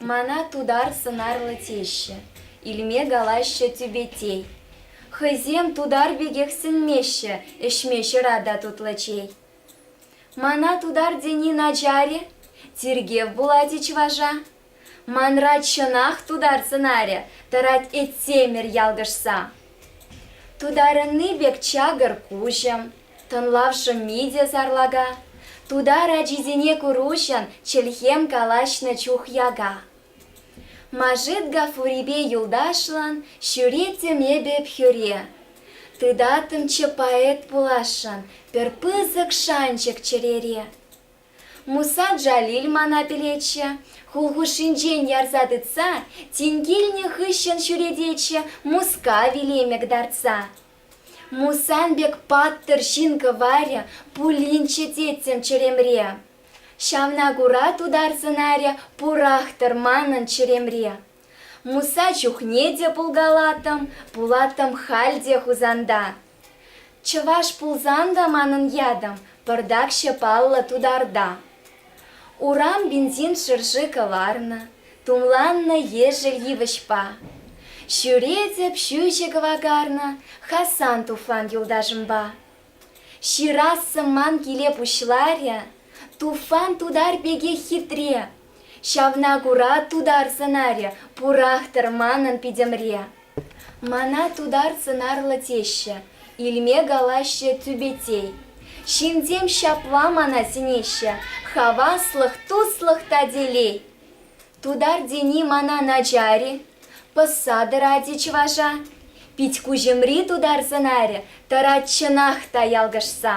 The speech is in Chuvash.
Мана тутар сӑнарлӑ теҫҫӗ, илме калаҫҫӗ тӳпетей. Хӑйсем тутар пекех сӗнмеҫҫӗ, ӗҫме ҫӑра та тутлӑ чей. Мана тутар тени начар-и? Тиркев пулать-и чӑваша? Манрать чӑнах тутар сӑнарӗ тӑрать Этсемӗр ялкӑшса. Тутарӑнни пек чакӑр куҫӑм, тӑнлав шӑмми те сарлака. Тутар ачисене куруҫӑн чӗлхем калаҫнӑ чух яка. Машит Гафурипе юлташлӑн ҫӳреттӗм эпӗ хӳре. Тытаттӑмччӗ поэт пуласшӑн пӗр пысӑк шанчӑк чӗрере. Муса Джалиль мана пӗлетчӗ, хул хушшинчен ярса тытса, тин килнӗ хыҫҫӑн ҫӳрететчӗ Мускав илемӗк тартса. Мусан пек паттӑр ҫын кӑварӗ пулинччӗ теттӗм чӗремре. Ҫавна кура тутар сӑнарӗ пурах-тӑр манӑн чӗремре. Муса чухне те пулкалаттӑм, пулаттӑм халь те Хусанта. Чӑваш пулсан та манӑн ятӑм пӑртакҫӑ паллӑ тутарта. Урам бензин шӑрши кӑларнӑ, тумланнӑ ешӗл йывӑҫпа. Ҫӳретӗп ҫӳҫӗ кӑвакарнӑ Хасан туфан юлташӑмпа. Ҫырассӑм ман киле пуҫларӗ, Туфан тутар пекех хитре, Ҫавна кура тутар сӑнарӗ пурах-тӑр манӑн питӗмре. Мана тутар сӑнарлӑ теҫҫӗ, илме калаҫҫӗ тӳпетей. Ҫынсем ҫапла мана сӗнеҫҫӗ, хаваслӑх, туслӑх та телей. Тутар тени мана начар-и? Пӑсса тӑрать-и чӑваша? Пит-куҫӑмри тутар сӑнарӗ тӑрать чӑнах та ялкӑшса.